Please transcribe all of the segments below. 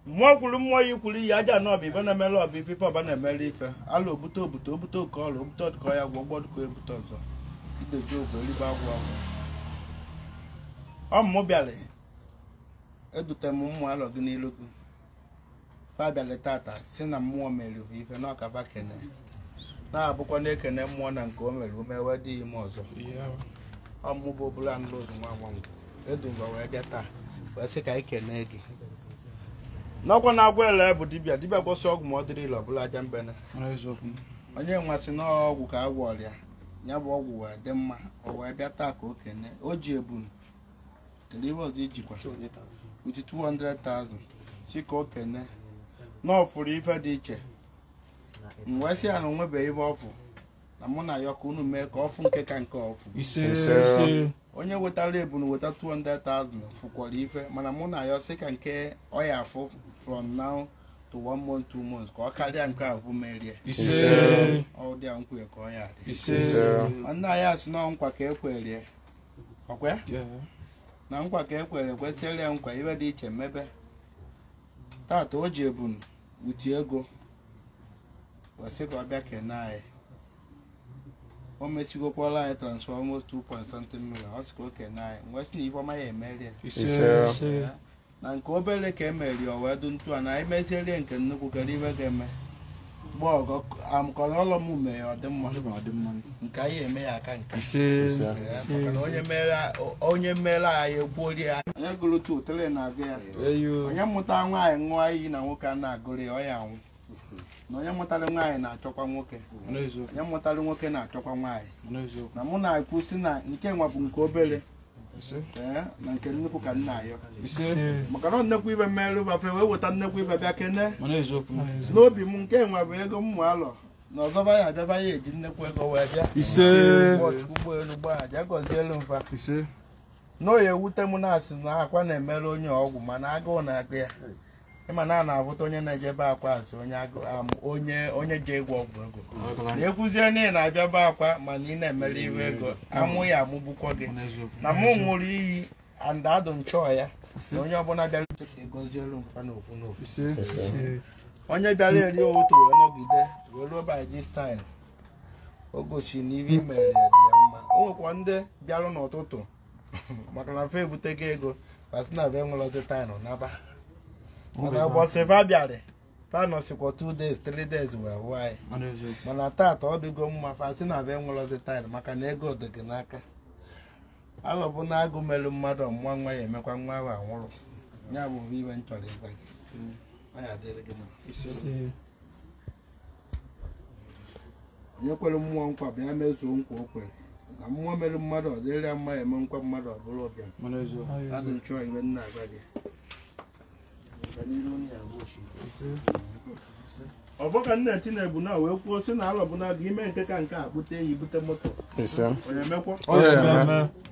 mmụọ kwuru mmụọ ya ikwuru iyi aja na ọbụ ibe na-emere ọbụ ife ife ọba na-emere ife ala obute obute obute oke ọla obute ọdụkọ ya gwọ gbọ dụkọ ebute ọzọ ideji ogwe elibe agwụ agwụ ọ mụ bịara edute m ụmụ alọ gị n'ilu gị fa bịalị tata sị na mmụọ mere bụ ife na ọkaba kene na-abụkwa na e kene mmụọ na nke o mere ume wee dị ime ọzọ ọ mụ bụ obula nlụ ozu nwa agbanwe edu mgbe wee bịa taa wee sị ka anyị kenee gị n'ọkwa na-agwa ele bụ dibịa dibịa gwọsị ọgwụ ma ọ dịrọ ile ọ bụlụ aja mbene onye wee sị na ọgwụ ka a gwọọrị ya ya bụ ọgwụ wee dị mma o wee bịa taa ka o kene o ji ebunu Ndị ibe ọzọ ijikwa with 200,000 sị ka o kene na ọ fụrụ ife dị iche m wee sị ya na o nwebeghị ife ọ fụ na mụ na-ayọ ka unu mee ka ọ fụ nke ka nke ọ fụ onye wetara ebunu weta 200,000 fụkwara ife mana mụ na-ayọ sị ka nke ọ ya-afụ from now to one month two months ka ọ karịa nke e bu merie ọ dị a nkwe ka ọ ya dị nwanne anyị a sị na nkwa ka e kwerie o kwe na nkwa ka e kwere kwesịrị ya nkwa ife dị iche mebe tata o ji ebunu ti ego wee sị ka ọ bịa kene anyị o mesigokwala anyị transfer almost 2 point something million ọ sị ka o kene anyị wee sị na ife ọma ya-emeri ya na nke obere ka e meri o wee dụ etu a na anyị mezierie nke nnukwu kedu ife ga-eme mgbe ọgọ amụkọrọ ọlọ m mee ya ọ dị mma nke anyị eme ya aka nke maka na onye mere onye mere anyị egbuori ya onye gụrụ tu tele na-agụ ya onye mụta nwaanyị ṅụọ iyi na nwoke a na-agụrọ ya ọ ya-anwụ na onye mụtara nwaanyị na-achọkwa nwoke onye mụtara nwoke na-achọkwa nwaanyị na mụ na-ekwu sị na nke nwa bụ nke obere Eh, na nke nnukwu ka m na-ayọ maka na nnekwu ife meerụ fa fa ewee weta nnekwu ife bịa kene n'obi m nke nwa bụ ego ụmụ alọ na ọzọ fa ya-abịa fa ya-eji nnekwu ego wee bịa ụgbọelu gbaa aja gọzielu m fa na ọ ya-ewute m na-asị na Akwa na-emere onye ọgwụ mana agụụ na-agụ ya ị ma na a na-afụta onye na-eje be Akwa a sị onye agụ am onye onye ji egwu ọgwụ ego na ekwuzie na ị na-abịa be Akwa mana ị na-emere ife ego amụ ya-amụgbukwa gị na mụ ṅụrụ iyi and adụ m achọ ya na onye ọbụla bịara uche ka ị gọzielu m fa n'ofu n'ofu onye bịara eri ụtụtụ wee nọgide wee ruo by this time o gosi na ife i mere ya dị ya mma o nwekwa ndị bịara n'ụtụtụ maka na fa ebutego ego fa si na be m were ọtị taịnụ naba mana ụbọchị fa bịara fa nọsịkwa two days three days wee wụọ anyị Mana eziokwu. mana tata ọ dịgo mma fa si na be m were ọtị taịnụ maka na ego dị gị n'aka alọ bụ na agụụ melu mmadụ ọ mụa nwa ya emekwa nwa ahụ anwụrụ ya bụ ife m chọrọ ịgwa gị ọ ya-adịrị gị mma Ise. onye kwere mmụọ nkwa bịa mezuo nkwa o kwere na mmụọ mere mmadụ ọ dịrị ya mma ya eme nkwa mmadụ ọ bụrụ ọbịa Mana eziokwu. adụ nchọ ife m na-agwa gị Ga n'iru onye ya bụ ochi. ọ bụ ka nna Tinubu na wee kwuo sị na alọ bụ na gị ime nke ka nke a bute ya i bute moto Ise. onye mekwa Ọ ya-eme.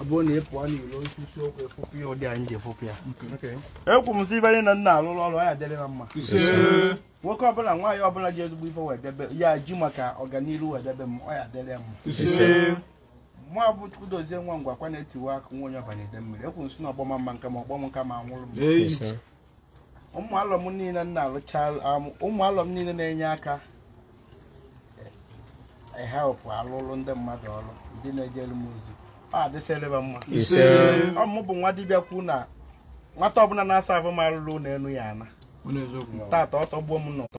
ọ bụrụ na ị pụọ n'ilo nkwụsị okwu efopụ ya ụdị anyị ji efopụ ya ekwu m sị ibe anyị na m na-alụrụ ọrụ ya adịrị na mma nwoke ọbụla nwaanyị ọbụla ji ezigbo ife wee debe ya ji maka ọganihu wee debe m ọ ya-adịrị ya mma mụwa bụ Chukwudozie nwa ngwa kwa na-etiwe aka nwa onye ọbanye Idemmiri ekwu m sị na ọgbọma mma nke ma ọgbọm nke ma anwụrụ m ụmụ alọm niile m na-alụcha am, ụmụ alọm niile na-enye aka help alụlụ ndị mmadụ ọrụ ndị na-ejelu m ozi ọ dịsịrị fa mma Ise. ọ mụ bụ nwa dibịa kwu na nwata ọbụla na-asa abụ m alụlụ na enu ya ana Ọ na-eziokwu. tata ọ tọgbuo m n'ụtọ